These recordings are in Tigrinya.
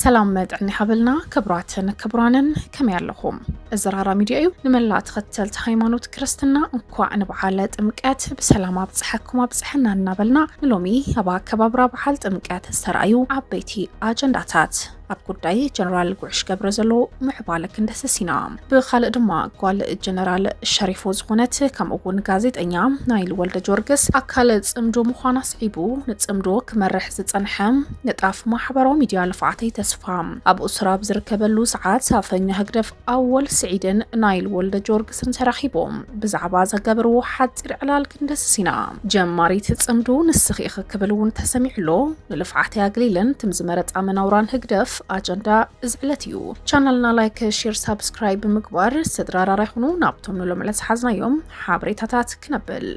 ሰላም መጥዕን ይሃበልና ክብራትን ክብራንን ከመይ ኣለኹም? እዚ ራራ ሚድያ እዩ። ንመላ ተኸተልቲ ሃይማኖት ክርስትና እንኳዕ ንበዓለ ጥምቀት ብሰላም ኣብፀሐኩም ኣብፀሐና እናበልና ንሎሚ ኣብ ኣከባብራ በዓል ጥምቀት ዝተረኣዩ ዓበይቲ ኣጀንዳታት ኣብ ጉዳይ ጀነራል ጉዕሽ ገብረ ዘሎ ምዕባለ ክንደስስ ኢና ብካልእ ድማ ጓል ጀነራል ሸሪፎ ዝኾነት ከምኡ እውን ጋዜጠኛ ናይል ወልደ ጆርግስ ኣካል ፅምዶ ምዃና ስዒቡ ንፅምዶ ክመርሕ ዝፀንሐ ንጣፍ ማሕበራዊ ሚድያ ልፍዓተይ ተስፋ ኣብ እስራብ ዝርከበሉ ሰዓት ኣፈኛ ህግደፍ ኣወል ስዒድን ናይል ወልደጆርግስን ተራኺቦም ብዛዕባ ዘገብርዎ ሓጺር ዕላል ክንደስስ ኢና። ጀማሪት ጽምዱ ንስኺ ኢኺ ክብል እውን ተሰሚዑ ኣሎ። ንልፍዓተይ ኣግሊለን ትም ዝመረጻ መናውራን ህግደፍ ኣጀንዳ እዚ ዕለት እዩ። ቻናልና ላይክ፣ ሼር፣ ሳብስክራይብ ብምግባር ስድራ ራራ ይኹኑ። ናብቶም ንሎሚ ዕለት ዝሓዝናዮም ሓበሬታታት ክነብል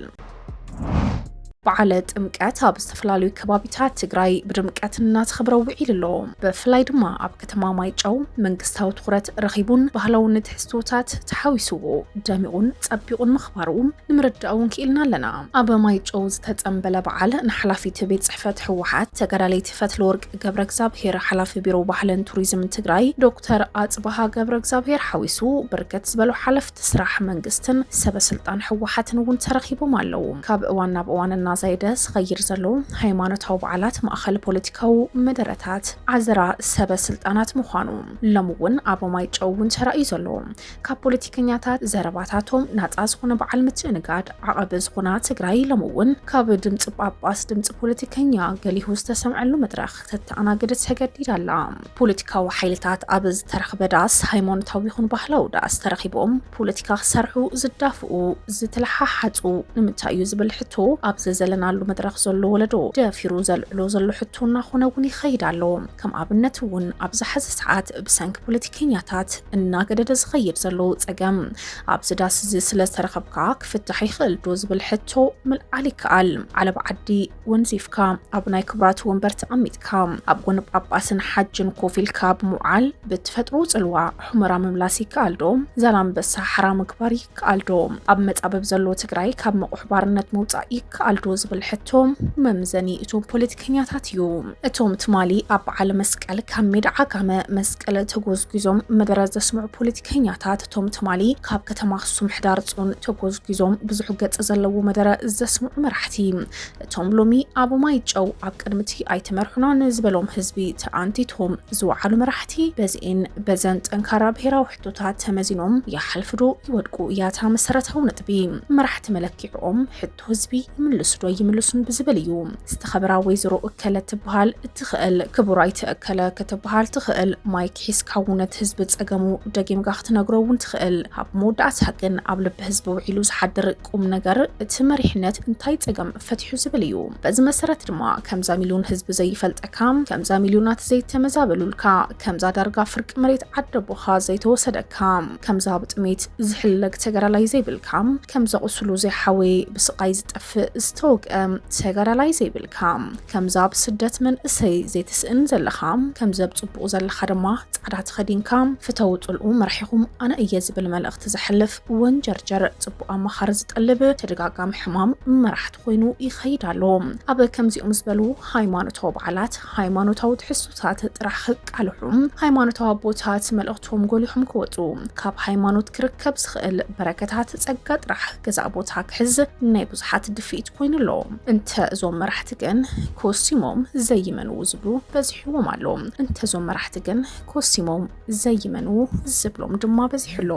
በዓለ ጥምቀት ኣብ ዝተፈላለዩ ከባቢታት ትግራይ ብድምቀት እናተኸብረ ውዒሉ ኣሎ። ብፍላይ ድማ ኣብ ከተማ ማይጨው መንግስታዊ ትኹረት ረኺቡን ባህላዊ ንትሕዝቶታት ተሓዊስዎ ደሚቑን ጸቢቑን ምኽባሩ ንምርዳእ እውን ክኢልና ኣለና። ኣብ ማይጨው ዝተጸምበለ በዓል ንሓላፊት ቤት ጽሕፈት ህወሓት ተጋዳሊት ፈትለወርቅ ገብረ እግዚኣብሄር፣ ሓላፊ ቢሮ ባህልን ቱሪዝምን ትግራይ ዶክተር ኣጽብሃ ገብረ እግዚኣብሄር ሓዊሱ ብርክት ዝበሉ ሓለፍቲ ስራሕ መንግስትን ሰበ ስልጣን ህወሓትን እውን ተረኺቦም ኣለው። ካብ እዋን ናብ እዋን እናዛየደ ዝኸይድ ዘሎ ሃይማኖታዊ በዓላት ማእኸል ፖለቲካዊ መደረታት ዓዘራ ሰበ ስልጣናት ምዃኑ ሎሚ እውን ኣብ ማይጨው እውን ተራእዩ ዘሎ ካብ ፖለቲከኛታት ዘረባታቶም ናፃ ዝኾነ በዓል ምትእንጋድ ዓቐብ ዝኾና ትግራይ ሎሚ እውን ካብ ድምፂ ጳጳስ ድምፂ ፖለቲከኛ ገሊሁ ዝተሰምዐሉ መድረኽ ክተተኣናግድ ተገዲዳ ኣላ። ፖለቲካዊ ሓይልታት ኣብ ዝተረኽበ ዳስ፣ ሃይማኖታዊ ይኹን ባህላዊ ዳስ ተረኺቦም ፖለቲካ ክሰርሑ ዝዳፍኡ፣ ዝተለሓሓጹ ንምንታይ እዩ ዝብል ሕቶ ኣብዚ ዘለናሉ መድረኽ ዘሎ ወለዶ ደፊሩ ዘልዕሎ ዘሎ ሕቶ እናኾነ እውን ይኸይድ ኣሎ። ከም ኣብነት እውን ኣብዚ ሐዚ ሰዓት ብሰንኪ ፖለቲከኛታት እናገደደ ዝኸይድ ዘሎ ጸገም ኣብዚ ዳስ እዚ ስለዝተረኸብካ ክፍታሕ ይኽእል ዶ ዝብል ሕቶ ምልዓል ይከኣል። ዓለባ ዓዲ ወንዚፍካ ኣብ ናይ ክብራት ወንበር ተቐሚጥካ ኣብ ጎኒ ጳጳስን ሓጅን ኮፍ ኢልካ ብምውዓል ብትፈጥሮ ጽልዋ ሑመራ ምምላስ ይከኣል ዶ? ዛላምበሳ ሓራ ምግባር ይከኣል ዶ? ኣብ መጻብብ ዘሎ ትግራይ ካብ መቑሕ ባርነት ምውጻእ ይከኣል ዶ? ዝብል ሕቶ መምዘኒ እቶም ፖለቲከኛታት እዩ። እቶም ትማሊ ኣብ በዓለ መስቀል ካብ ሜዳ ዓጋመ መስቀል ተጎዝጒዞም መደረ ዘስምዑ ፖለቲከኛታት እቶም ትማሊ ካብ ከተማ ኣክሱም ሕዳር ጽዮን ተጎዝጒዞም ብዙሕ ገጽ ዘለዎ መደረ ዘስምዑ መራሕቲ፣ እቶም ሎሚ ኣብ ማይ ጨው ኣብ ቅድሚ'ቲ ኣይትመርሑናን ዝበሎም ህዝቢ ተኣንቲቶም ዝወዓሉ መራሕቲ በዚኤን በዘን ጠንካራ ብሄራዊ ሕቶታት ተመዚኖም ይሓልፉ'ዶ ይወድቁ እያ እታ መሰረታዊ ነጥቢ። መራሕቲ መለኪዕኦም ሕቶ ህዝቢ ይምልሱ ዶ ይምልሱን ብዝብል እዩ። ዝተኸበራ ወይዘሮ እከለ ትበሃል እትኽእል ክቡር ኣይተ እከለ ክትበሃል ትኽእል። ማይክ ሒዝካ እውን እቲ ህዝቢ ፀገሙ ደጊምካ ክትነግሮ እውን ትኽእል። ኣብ መወዳእታ ግን ኣብ ልቢ ህዝቢ ውዒሉ ዝሓድር ቁም ነገር እቲ መሪሕነት እንታይ ፀገም ፈቲሑ ዝብል እዩ። በዚ መሰረት ድማ ከምዛ ሚልዮን ህዝቢ ዘይፈልጠካ፣ ከምዛ ሚልዮናት ዘይተመዛበሉልካ፣ ከምዛ ዳርጋ ፍርቂ መሬት ዓደቦኻ ዘይተወሰደካ፣ ከምዛ ብጥሜት ዝሕለግ ተጋዳላይ ዘይብልካ ከምዛ ቁስሉ ዘይሓወየ ብስቃይ ዝጠፍእ ዝተወግኣ ተጋዳላይ ዘይብልካ ከምዛ ኣብ ስደት መንእሰይ ዘይትስእን ዘለኻ ከምዚ ኣብ ጽቡቅ ዘለኻ ድማ ጻዕዳ ተኸዲንካ ፍተዉ ጽልኡ መርሒኹም ኣነ እየ ዝብል መልእኽቲ ዘሕልፍ ወንጀርጀር ጽቡቅ ኣማኻሪ ዝጠልብ ተደጋጋሚ ሕማም መራሕቲ ኮይኑ ይኸይድ ኣሎ ኣብ ከምዚኦም ዝበሉ ሃይማኖታዊ በዓላት ሃይማኖታዊ ትሕዝቶታት ጥራሕ ቃልሑም ሃይማኖታዊ ኣቦታት መልእኽቶም ጎሊሖም ክወጹ ካብ ሃይማኖት ክርከብ ዝኽእል በረከታት ጸጋ ጥራሕ ገዛእ ቦታ ክሕዝ ናይ ብዙሓት ድፍኢት ኮይኑ ኣሎ። እንተ እዞም መራሕቲ ግን ኮሲሞም ዘይመንዉ ዝብሉ በዚሕዎም ኣሎ። እንተ እዞም መራሕቲ ግን ኮሲሞም ዘይመንዉ ዝብሎም ድማ በዚሑ ኣሎ።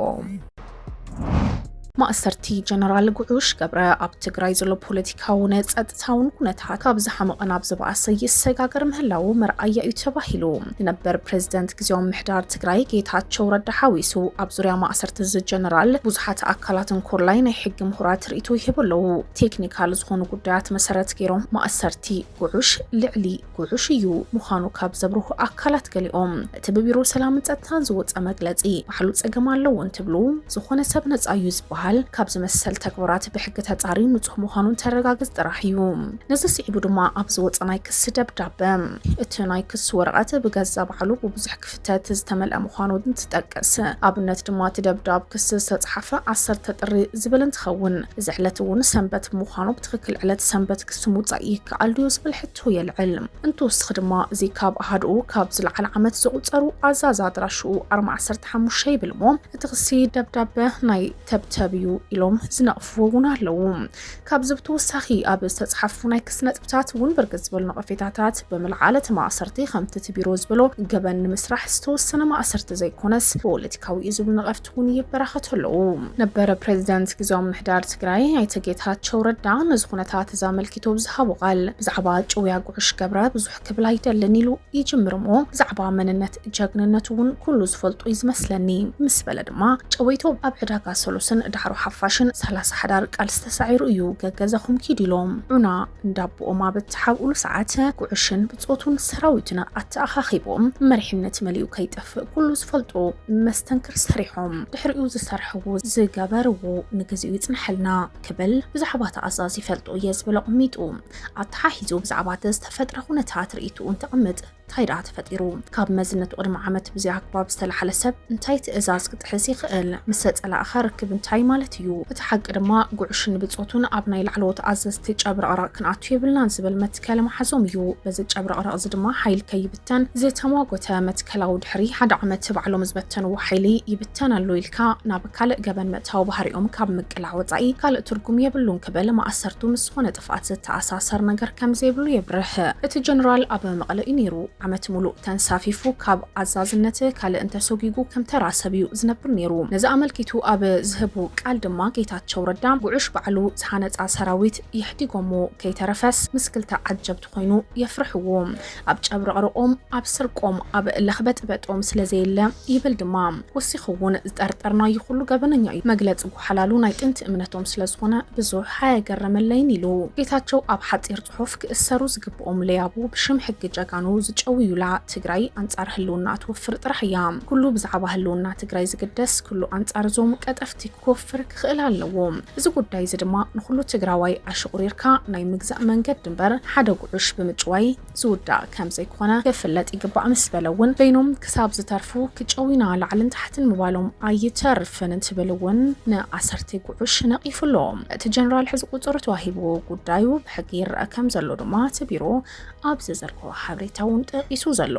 ማእሰርቲ ጀነራል ጉዑሽ ገብረ ኣብ ትግራይ ዘሎ ፖለቲካውን ጸጥታውን ኩነታት ካብ ዝሓመቐ ናብ ዝበኣሰ ይሰጋገር ምህላዉ መርኣያ እዩ ተባሂሉ። ንነበር ፕሬዝደንት ግዜያዊ ምሕዳር ትግራይ ጌታቸው ረዳ ሓዊሱ ኣብ ዙርያ ማእሰርቲ እዚ ጀነራል ብዙሓት ኣካላትን ኮላይ ናይ ሕጊ ምሁራት ርእይቶ ይህቡ ኣለዉ። ቴክኒካል ዝኾኑ ጉዳያት መሰረት ገይሮም ማእሰርቲ ጉዑሽ ልዕሊ ጉሑሽ እዩ ምዃኑ ካብ ዘብርሁ ኣካላት ገሊኦም፣ እቲ ብቢሮ ሰላምን ጸጥታን ዝወጸ መግለጺ ባዕሉ ጸገም ኣለዎ እንትብሉ፣ ዝኾነ ሰብ ነጻ እዩ ዝበሃል ካብዚ መሰል ተግባራት ብሕጊ ተጻርዩ ንጹህ ምዃኑ እንተረጋገጽ ጥራሕ እዩ። ነዚ ስዒቡ ድማ ኣብ ዝወጸ ናይ ክሲ ደብዳበ፣ እቲ ናይ ክሲ ወረቐት ብገዛ ባዕሉ ብብዙሕ ክፍተት ዝተመልኣ ምዃኑ እንትጠቅስ፣ ኣብነት ድማ እቲ ደብዳብ ክሲ ዝተጽሓፈ ዓሰርተ ጥሪ ዝብል እንትኸውን፣ እዚ ዕለት እውን ሰንበት ብምዃኑ ብትኽክል ዕለት ሰንበት ክሲ ምውጻእ ይከኣል ድዩ ዝብል ሕቶ ሕቶ የልዕል። እንትወስኽ ድማ እዚ ካብ ኣሃዱኡ ካብ ዝለዓል ዓመት ዘቑፀሩ ኣዛዚ ኣድራሽኡ ኣርማ ዓሰርተ ሓሙሽተ ይብል እሞ እቲ ክሲ ደብዳበ ናይ ተብተብ እዩ ኢሎም ዝነቕፍዎ እውን ኣለዉ። ካብዚ ብተወሳኺ ኣብ ዝተፅሓፉ ናይ ክሲ ነጥብታት እውን ብርክት ዝበሉ ነቐፌታታት ብምልዓል እቲ ማእሰርቲ ከምቲ እቲ ቢሮ ዝበሎ ገበን ንምስራሕ ዝተወሰነ ማእሰርቲ ዘይኮነስ ፖለቲካዊ እዩ ዝብሉ ነቐፍቲ እውን ይበራኸቱ ኣለዉ። ነበረ ፕሬዚደንት ግዜያዊ ምምሕዳር ትግራይ ኣይተ ጌታቸው ረዳ ነዚ ኩነታት እዚ ኣመልኪቱ ኣብ ዝሃቦ ቃል ብዛዕባ ጭውያ ጉዕሽ ገብረ ብዙሕ ክብል ኣይደልን ኢሉ ይጅምር እሞ ብዛዕባ መንነት ጀግንነቱ እውን ኩሉ ዝፈልጦ እዩ ዝመስለኒ ምስ በለ ድማ ጨወይቶ ኣብ ዕዳጋ ሰሉስን ዳዕሮ ሓፋሽን ሰላሳ ሓዳር ቃልሲ ተሳዒሩ እዩ ገገዛኹም ኪዱ ኢሎም ዑና እንዳቦኦም ኣብ እትሓብኡሉ ሰዓት ጉዕሽን ጾቱን ሰራዊትና ኣተኣኻኺቦም መሪሕነት መሊኡ ከይጠፍእ ኩሉ ዝፈልጦ መስተንክር ሰሪሖም ድሕሪኡ ዝሰርሕዎ ዝገበርዎ ንግዚኡ ይጽንሐልና ክብል ብዛዕባ እቲ ኣዛዚ ይፈልጦ እየ ዝብል ኣቐሚጡ ኣተሓሒዙ ብዛዕባ እቲ ዝተፈጥረ ኩነታት ርእይትኡ እንተቐምጥ እንታይ ደኣ ተፈጢሩ ካብ መዝነቱ ቅድሚ ዓመት ብዚ ኣግባብ ዝተላሓለ ሰብ እንታይ ትእዛዝ ክጥሕስ ይኽእል ምስ ተጸላእኻ ርክብ እንታይ ማለት እዩ እቲ ሓቂ ድማ ጉዕሽን ብጾቱን ኣብ ናይ ላዕለዎት ኣዘዝቲ ጨብረቕራቕ ክንኣቱ የብልናን ዝብል ከለማሓዞም እዩ። በዚ ጨብረቕረቕ'ዚ ድማ ሓይል ከይብተን ዝተሟጎተ መትከላዊ ድሕሪ ሓደ ዓመት ባዕሎም ዝበተንዎ ሓይሊ ይብተን ኣሎ ኢልካ ናብ ካልእ ገበን ምእታው ባህሪኦም ካብ ምቅላዕ ወጻኢ ካልእ ትርጉም የብሉን ክብል ማእሰርቱ ምስ ዝኾነ ጥፍኣት ዝተኣሳሰር ነገር ከምዘይብሉ የብርህ። እቲ ጀነራል ኣብ መቐለ እዩ ነይሩ። ዓመት ሙሉእ ተንሳፊፉ ካብ ኣዛዝነት ካልእ እንተሶጊጉ ከም ተራ ሰብ እዩ ዝነብር ነይሩ። ነዚ ኣመልኪቱ ኣብ ዝህቡ ቃል ድማ ጌታቸው ረዳ ጉዑሽ ባዕሉ ዝሃነጻ ሰራዊት፣ የሕዲጎምዎ ከይተረፈስ ምስ ክልተ ዓጀብቲ ኮይኑ የፍርሕዎ ኣብ ጨብረቕርቖም ኣብ ስርቆም ኣብ ለኽበጥበጦም ስለ ዘየለ ይብል ድማ ወሲኹ ውን ዝጠርጠርናዩ ኩሉ ገበነኛ እዩ መግለጺ ጎሓላሉ ናይ ጥንቲ እምነቶም ስለ ዝኾነ ብዙሕ ኣየገረመለይን ኢሉ ጌታቸው ኣብ ሓጺር ጽሑፍ ክእሰሩ ዝግብኦም ለያቡ ብሽም ሕጊ ጀጋኑ ዝጨውዩላ ትግራይ ኣንጻር ህልውናኣ ትወፍር ጥራሕ እያ ኩሉ ብዛዕባ ህልውና ትግራይ ዝግደስ ኩሉ ኣንጻር እዞም ቀጠፍቲ ክወፍር ክኽእል ኣለዎ። እዚ ጉዳይ እዚ ድማ ንኹሉ ትግራዋይ ኣሽቑሪርካ ናይ ምግዛእ መንገዲ እምበር ሓደ ጉዑሽ ብምጭዋይ ዝውዳእ ከም ዘይኮነ ክፍለጥ ይግባእ ምስ በለ እውን በይኖም ክሳብ ዝተርፉ ክጨውዩና ላዕልን ታሕትን ምባሎም ኣይተርፍን እንትብል እውን ንኣሰርቴ ጉዑሽ ነቒፉ ኣሎ። እቲ ጀነራል ሕዚ ቁፅሪ ተዋሂብዎ ጉዳዩ ብሕጊ ይረኣ ከም ዘሎ ድማ እቲ ቢሮ ኣብ ዘዘርግሖ ሓበሬታ እውን ጠቒሱ ዘሎ።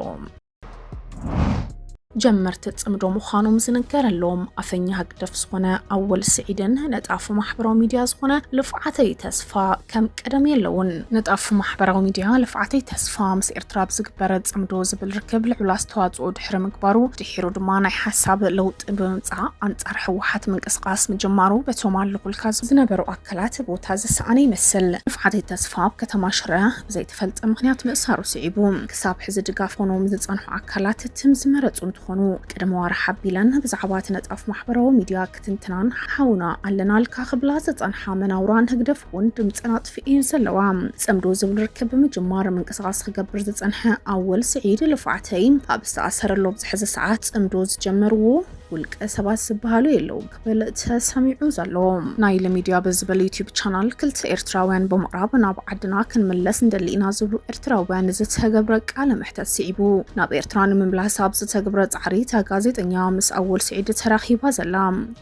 ጀመርቲ ጽምዶ ምዃኖም ዝንገረሎም ኣፈኛ ህግደፍ ዝኾነ ኣወል ስዒድን ነጣፊ ማሕበራዊ ሚድያ ዝኾነ ልፍዓተይ ተስፋ ከም ቀደም የለውን። ነጣፊ ማሕበራዊ ሚድያ ልፍዓተይ ተስፋ ምስ ኤርትራ ብዝግበረ ጽምዶ ዝብል ርክብ ልዑል ኣስተዋጽኦ ድሕሪ ምግባሩ ድሒሩ ድማ ናይ ሓሳብ ለውጢ ብምምጻእ ኣንጻር ህወሓት ምንቅስቓስ ምጅማሩ በቶም ኣለኹልካ ዝነበሩ ኣካላት ቦታ ዝሰኣነ ይመስል። ልፍዓተይ ተስፋ ኣብ ከተማ ሽረ ብዘይተፈልጠ ምክንያት ምእሳሩ ስዒቡ ክሳብ ሕዚ ድጋፍ ኾኖዎም ዝፀንሑ ኣካላት ትም ዝመረፁ እንትኾኑ ቅድሚ ዋርሕ ኣቢለን ብዛዕባ እቲ ነጣፍ ማሕበራዊ ሚድያ ክትንትናን ሓውና ኣለናልካ ክብላ ዝፀንሓ መናውራን ህግደፍ እውን ድምፀን ኣጥፊኤን ዘለዋ። ፅምዶ ዝብል ርክብ ብምጅማር ምንቅስቓስ ክገብር ዝፀንሐ ኣወል ስዒድ ልፍዓተይ ኣብ ዝተኣሰረሉ ኣብዚ ሕዚ ሰዓት ፅምዶ ዝጀመርዎ ውልቀ ሰባት ዝበሃሉ የለውን። ክብል ተሰሚዑ ዘሎ። ናይል ሚድያ ብዝብል ዩትዩብ ቻናል ክልተ ኤርትራውያን ብምቕራብ ናብ ዓድና ክንምለስ ንደሊ ኢና ዝብሉ ኤርትራውያን ዝተገብረ ቃለ መሕተት ስዒቡ ናብ ኤርትራ ንምምላስ ኣብ ዝተገብረ ጻዕሪ እታ ጋዜጠኛ ምስ ኣወል ስዒድ ተራኺባ ዘላ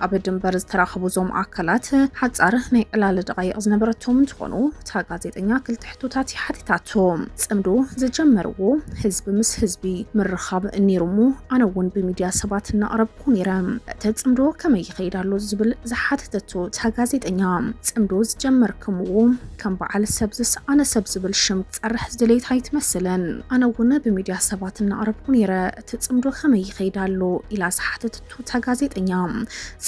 ኣብ ድንበር ዝተራኸቡ እዞም ኣካላት ሓጻር ናይ ዕላል ደቓይቕ ዝነበረቶም እንትኾኑ እታ ጋዜጠኛ ክልተ ሕቶታት እያ ሓቲታቶም። ጽምዶ ዝጀመርዎ ህዝቢ ምስ ህዝቢ ምርኻብ ነይሩሞ ኣነ እውን ብሚድያ ሰባት እናቕረብኩ ኵሚራ እቲ ጽምዶ ከመይ ይኸይድ ኣሎ ዝብል ዝሓተተቶ እታ ጋዜጠኛ፣ ጽምዶ ዝጀመርክምዎ ከም በዓል ሰብ ዝሰኣነ ሰብ ዝብል ሽም ክትጸርሕ ዝደለየት ኣይትመስልን፣ ኣነ እውን ብሚድያ ሰባት እናቕረብኩ ነይረ፣ እቲ ጽምዶ ከመይ ይኸይድ ኣሎ ኢላ ዝሓተተቶ እታ ጋዜጠኛ፣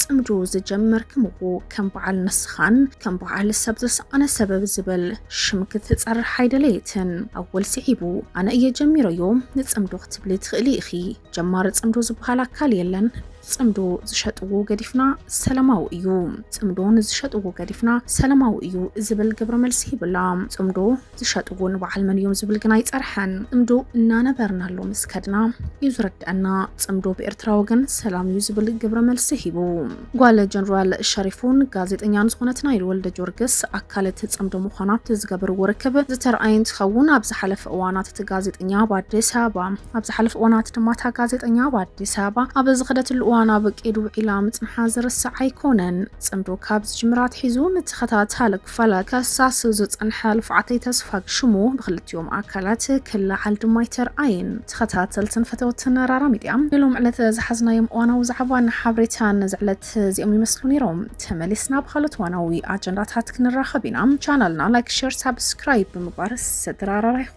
ጽምዶ ዝጀመርክምዎ ከም በዓል ንስኻን ከም በዓል ሰብ ዝሰኣነ ሰብ ብዝብል ሽም ክትጸርሕ ኣይደለየትን። ኣወል ስዒቡ ኣነ እየ ጀሚረዮ ንጽምዶ ክትብሊ ትኽእሊ ኢኺ፣ ጀማሪ ጽምዶ ዝበሃል ኣካል የለን። ጽምዶ ዝሸጥዎ ገዲፍና ሰላማዊ እዩ፣ ጽምዶ ንዝሸጥዎ ገዲፍና ሰላማዊ እዩ ዝብል ግብረ መልሲ ይብላ። ጽምዶ ዝሸጥዎ ንበዓል መን እዮም ዝብል ግን ኣይጸርሐን። ጽምዶ እናነበርናሉ ምስ ከድና እዩ ዝርድአና። ጽምዶ ብኤርትራ ወገን ሰላም እዩ ዝብል ግብረ መልሲ ሂቡ። ጓል ጀነራል ሸሪፉን ጋዜጠኛን ዝኾነት ናይል ወልደጀወርግስ ኣካል እቲ ፅምዶ ምዃና ኣብቲ ዝገበርዎ ርክብ ዝተርኣየ እንትኸውን ኣብ ዝሓለፈ እዋናት እቲ ጋዜጠኛ ኣብ ኣዲስ ኣበባ ኣብ ዝሓለፈ እዋናት ድማ እታ ጋዜጠኛ ኣብ ኣዲስ ኣበባ ኣብ ዝኸደትሉ እዋን ኣብ ቄድ ውዒላ ምፅንሓ ዝርሳዕ ኣይኮነን። ፅምዶ ካብ ዝጅምር ኣትሒዙ ንተኸታታሊ ክፋል ከሳሲ ዝጸንሐ ልፍዓተይ ተስፋ ሽሙ ብክልቲኦም ኣካላት ክለዓል ድማ ኣይተርኣየን። ተኸታተልትን ፈተውትን ራራ ሚድያ ንሎሚ ዕለት ዝሓዝናዮም እዋናዊ ዛዕባን ሓበሬታን ነዚ ዕለት እዚኦም ይመስሉ ነይሮም። ተመሊስና ብኻልኦት እዋናዊ ኣጀንዳታት ክንራኸብ ኢና። ቻናልና ላይክ ሸር ሳብስክራይብ ብምግባር ስድራ ራራ ይኹኑ።